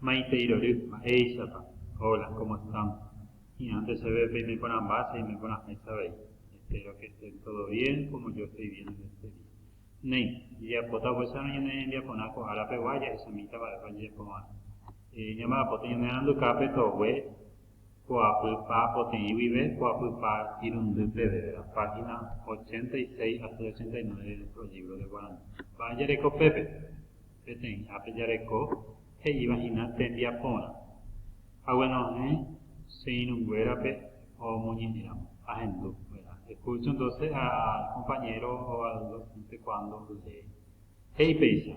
Maite irory, mba'éichapa? Hola, ¿cómo están? Hi'ãnte chéve peime porãmba che aime porãháicha avei. Espero que estén todo bien, como yo estoy bien en este día. Néi, jejapóta upéicharõ ñane rembiaporã ko ára pegua jahechamíta mba'épa jajapo va'erã. Eh, ñamba'apóta ñanerandukápe togue poapy pa poteĩ guive, poapy pa irundy peve, ¿verdad? Página 86 asy 89 de nuestro libro de guaraní. Mba'e jareko pépe? Peteĩ ápe jareko he'íva hína tembiaporã. Hague nohẽ che irũnguérape omoñe'ẽramo, ahendu. Verá, escucho entonces a compañero o al docente cuando lee. He'i péicha,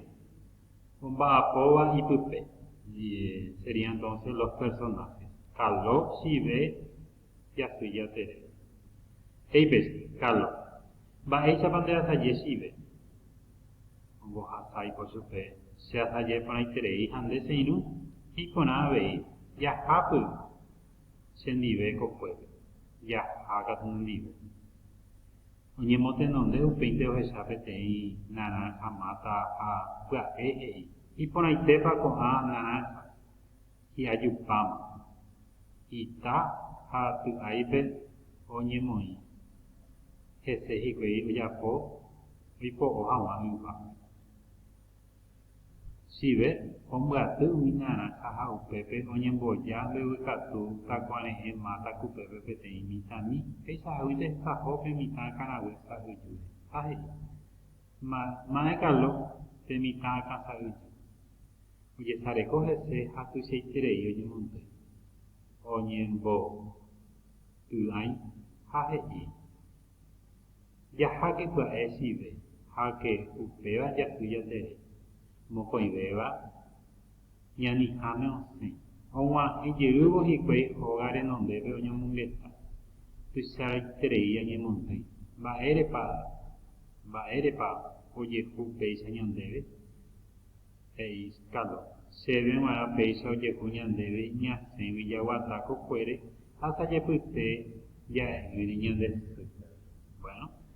omba'apóva ipype, sería entonces los personajes. Caló, Chive, jasy jatere. He'i péicha, Kálo, mba'éichapa ndeasaje chive? Ombohasa oiko chupe, Che asaje porãiterei ha nde che irũ, he'i porã avei, Jahápy che ndive ko kuépe. Jaha katu nendive. Oñemotenonde upéinte ohecha peteĩ narãnja máta ha pya'e he'i, Iporãitépa ko'ã narãnja? hi'ajupáma, ita ha py'áipe oñemoĩ, hese hikuái ojapo oipo'o haguã yva. Chive ombyaty umi narãha ha upépe oñemboja mbeguekatu takuare'ẽ máta kupépe peteĩ mitãmi, peichaháguinte esaho pe mitã akãraguésa yjúre. Ha he'i, Mayma Ekaló pe mitã akã sa'ýpe, ojesareko hese ha tuichaiterei oñemondo. Oñemboty'ãi ha he'i, Jaháke pya'e chive, háke upéva jasy jaterei, mokõivéva ñaniháme osẽ, oguahẽ jeývo hikuái óga renondépe oñomongeta. Tuichaiterei añemondýi, mba'érepa, mba'érepa ojehu péicha ñandéve? he'i Caló. Chéve g̃uarã péicha ojehu ñandéve ñasẽgui jaguata kokuére ha sa'jepyte ja'e'ỹre ñande sy. Bueno,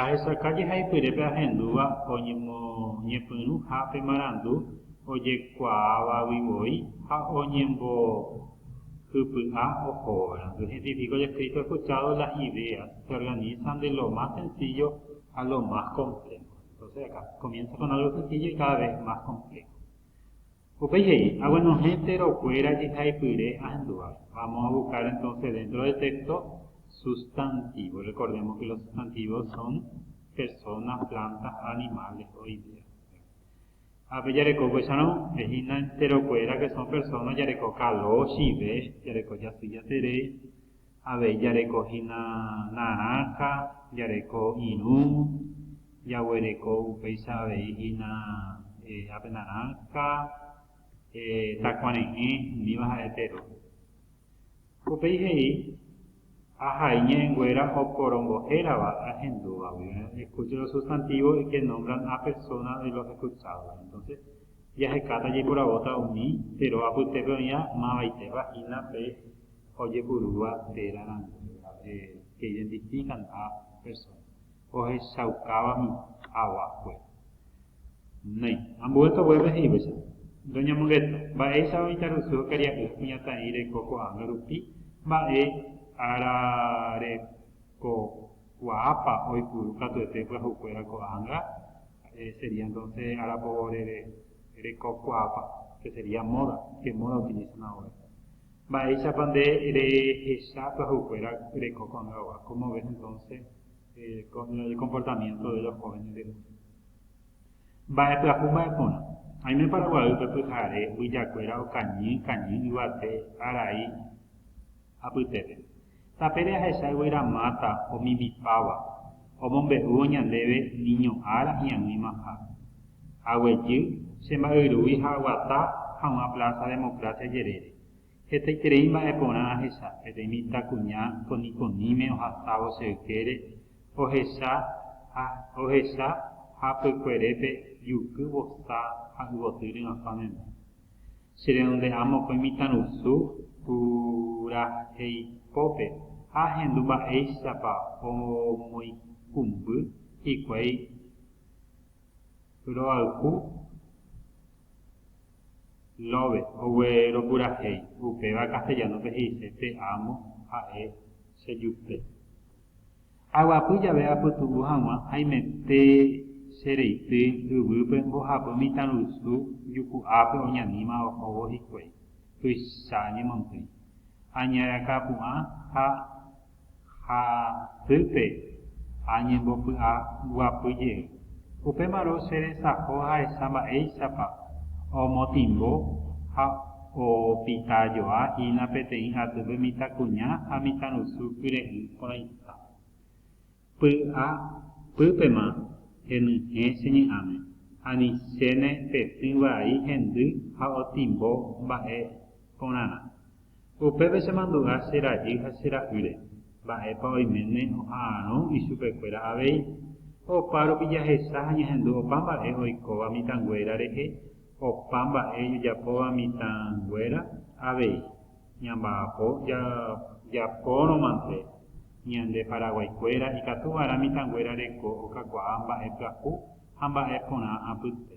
Ahechauka jehaipyrépe ahendúva oñemoñepyrũha pe marandu ojekuaávagui voi ha oñembohypy'a ohóva. Identifica o escrito escuchado las ideas se organizan de lo más sencillo a lo más complejo. Entonces acá comienza con algo sencillo y cada vez más complejo. Upéi he'i, Aguenohẽ térõ kuéra jehaipyre ahendúva. Vamos a buscar entonces dentro del texto sustantivos. Recordemos que los sustantivos son personas, plantas, animales o ideas. Ápe jareko upéicharõ, hína entero kuéra que son personas jareko kalo, chive, jareko jasy jaterei, Avei jareko hína narãha, jareko irũ, jaguereko upéicha avei hína ape narãha, takuare'ẽ, umíva ha'e tero. Upéi he'i, Ahai ñe'ẽnguéra oporongohérava ahendúvagui. Escuche los sustantivos y que nombran a persona de los escuchados. Entonces, jahekáta jaiporavóta umi tero apytépe oĩva mavaitépa hína pe ha ojepurúva téra rãngue pe identifíkanta persóna ohechaukáva mitãva kuéra. Néi, ambue toguépe he'ívacha, ndoñamongeta mba'éichapa mitãrusu ha karia'y ha kuñataĩ reko ko'ág̃a rupi mba'e ára rekokuaápa oipuru katuete pyahukuéra ko'ág̃a, ha'e sería entonce arapo rekokuaápa, que sería moda, qué moda utilizan ahora. Mba'éichapa nde rehecha pyahukuéra reko ko'ã hagua? Cómo ves entonces el comportamiento de los jóvenes del mundo? Mba'epyahu mba'e porã. Aime Paraguaýpe pyhare mbyjakuéra okañy kañy yvate arai apytépe. Tapére ahecha yvyra máta omimipáva, omombe'úvo ñandéve niño ára hi'aguĩma ha. Aguejy, che mba'yrúgui ha aguata haguã Plaza Democracia jerére. Hetaiterei mba'e porã ahecha, peteĩ mitãkuña konikoníme ohasávo che ykére, ohecha ha ohecha hapykuerépe juky vosa ha yvoty ry'asã menda. Che redonde'a mokõi mitãrusu purahéi pópe ha ahendu mba'éichapa omoikũmby hikuái roayhu love ogue ropurahéi, upéva castellano-pe he'ise pe amo ha'e che jupe. Aguapy jave apytu'u hag̃ua haimete che reity yvýpe mbohapy mitãrusu juku'ápe oñaníma ohóvo hikuái, tuicha añemondýi. Añarakapu'ã ha hasýpe añembopy'aguapy jey. Upémarõ che resaho jahecha mba'éichapa omotĩmbo ha opita joa hína peteĩ atýpe mitãkuña ha mitãrusu kyre'ỹ porãiha. Py'a pýpema henyhẽ che ñe'ãme, ani chéne petỹ vai hendy ha otĩmbo mba'e porãrã. Upépe chemandu'a che rajy ha che ra'ýre, mba'épa oiméne oha'arõ ichupekuéra avei. Opa rupi jahecha ha ñahendu opa mba'e oikóva mitãnguéra rehe, opa mba'e jajapóva mitãnguéra avei. Ñamba'apo jajapórõmante, ñande Paraguaikuéra ikatuva'erã mitãnguéra reko okakuaa mba'e pyahu ha mba'e porã apytépe.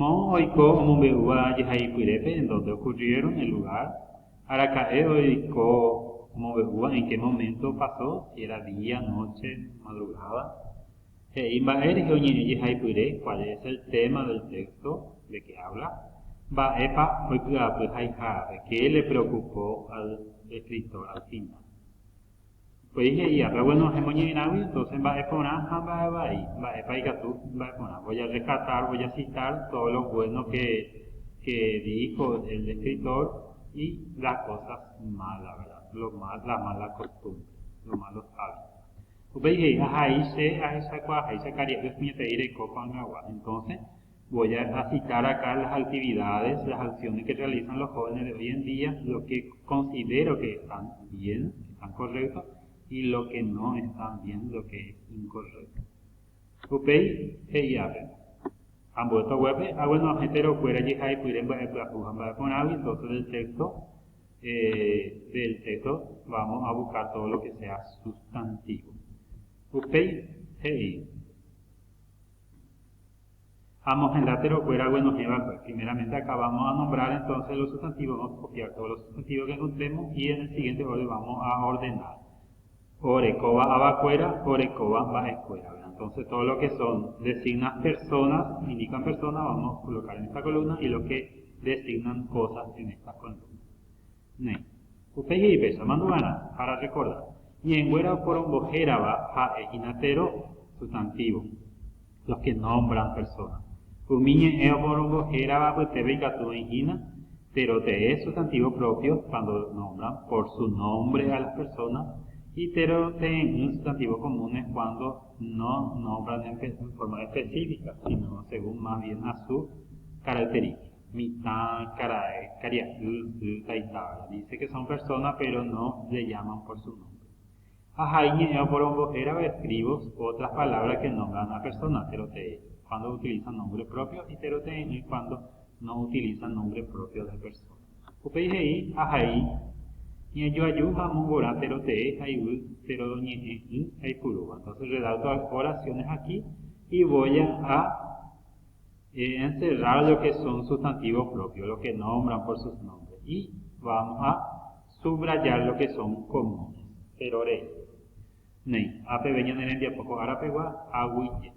Moõ oiko omombe'úva jehaipyrépe en donde ocurrieron el lugar, araka'e oiko omombe'úva en qué momento pasó, si era día, noche, madrugada. He'i mba'e rehe oñe'ẽ jehaipyre cuál es el tema del texto, de qué habla, mba'épa oipy'apy haihárape, qué le preocupó al escritor al final. Upéi he'i, Ápe bueno hemoñe'ẽrãgui, entonces mba'e porã ha mba'e vai, mba'épa ikatu mba'e porã. Voy a rescatar, voy a citar todo lo bueno que, que dijo el escritor y las cosas malas, ¿verdad? Lo mal, las malas costumbres, los malos hábitos. Upéi he'i, Ahai che ahechakuaaháicha karia'y oñeteĩ reko ko'ag̃agua. Entonces, Voy a citar acá las actividades, las acciones que realizan los jóvenes de hoy en día, lo que considero que están bien, que están correctos, y lo que no están bien, lo que es incorrecto. Upéi he'i ápe, ambuéta oguépe, ah bueno, hetero kuéra jehaipyre mba'e pyahu ha mba'e porãgui, entonces del texto, eh, del texto vamos a buscar todo lo que sea sustantivo. Upéi he'i, ha mohenda terokuéra oguenohẽva'ekue. Primeramente acabamos a nombrar entonces los sustantivos, vamos a copiar todos los sustantivos que encontremos y en el siguiente orden vamos a ordenar. Orekóva avakuéra, orekóva mba'ekuéra, ¿verdad? Entonces todo lo que son designan personas, indican personas, vamos a colocar en esta columna y lo que designan cosas en esta columna. Next. Upéi jepe, samandu'arã, para rekorda, ñe'ẽnguéra oporombo hérava ha'e hína tero sustantívo, los que nombran personas. Umi ñe'ẽ oporombo hérava apytépe ikatu oĩ hína tero tee sustantívo propio cuando nombran por su nombre a las personas y tero tee'ỹ sustantivos comunes cuando no nombran en forma específica, sino según más bien a su característica. Mitã, karae, karia'y, sy, taita, ¿verdad? Dice que son persona pero no le llaman por su nombre. Ha ha iñe'ẽ oporombo hérava escribos otras palabras que nombran a persona, terote'e, cuando utiliza nombre propio y terote'e'ỹ cuando no utiliza nombre propio de persona. Upéi he'i ha ha'i ñajoaju ha amongorã terote'e ha yvy teroñe'ẽ'ỹ aipurúva. Entonces redacto las oraciones aquí y voy a Eh, encerrar lo que son sustantivos propios, lo que nombran por sus nombres, y vamos a subrayar lo que son comunes. Péro rei. Néi, ha peve ñane rembiapo ko ára pegua, aguije.